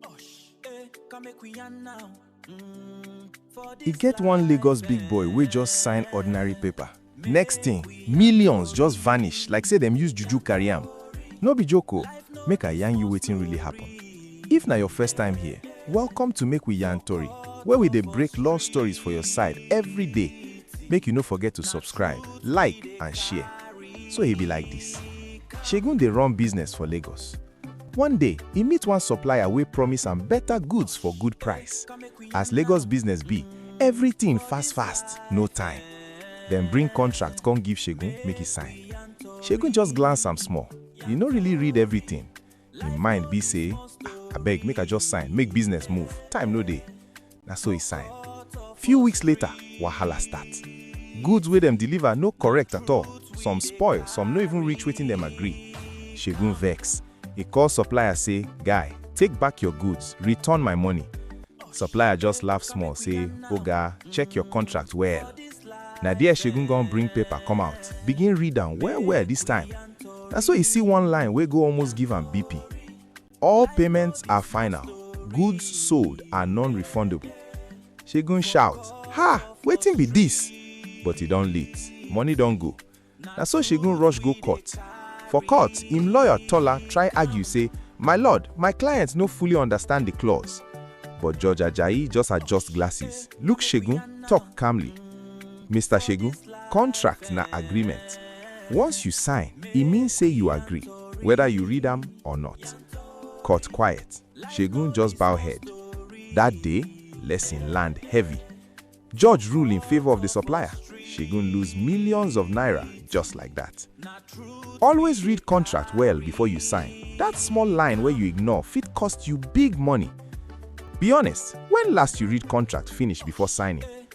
Osh, eh, come make we yarn now. Mm, for E this get one Lagos life, big boy wey just sign ordinary paper. Next thing, millions just vanish like say dem use juju carry am. No be joke o, make I yarn you wetin really happen. If na your first time here, welcome to Make We Yarn Tori, where we dey break law stories for your side every day. Make you no forget to subscribe, like and share. So e be like this. Segun dey run business for Lagos. One day, e meet one supplier wey promise am better goods for good price. As Lagos business be, everything fast fast, no time. Dem bring contract come give Segun make e sign. Segun just glance am small, e no really read everything. Im mind be say, Ah, abeg make I just sign, make business move, time no dey. Na so e sign. Few weeks later, wahala start. Goods wey dem deliver no correct at all, some spoil, some no even reach wetin dem agree. Segun vex, e call supplier say, Guy, take back your goods, return my money. Supplier just laugh small say, Oga, check your contract well. Na there Segun gon bring paper come out, begin read am well well this time. Na so e see one line wey go almost give am BP. All payments are final, goods sold are non-refundable. Segun shout, Ha! Wetin be dis? But e don late, money don go. Na so Segun rush go court. For court, im lawyer Tola try argue say, My lord, my client no fully understand the clause. But Judge Ajayi just adjust glasses, look Segun, talk calmly. Mister Segun, contract na agreement. Once you sign, e mean say you agree, whether you read am or not. Cut quiet, Segun just bow head. That day, lesson land heavy. Judge rule in favour of the supplier, Segun lose millions of naira just like that. Always read contract well before you sign, that small line wey you ignore fit cost you big money. Be honest, when last you read contract finish before signing?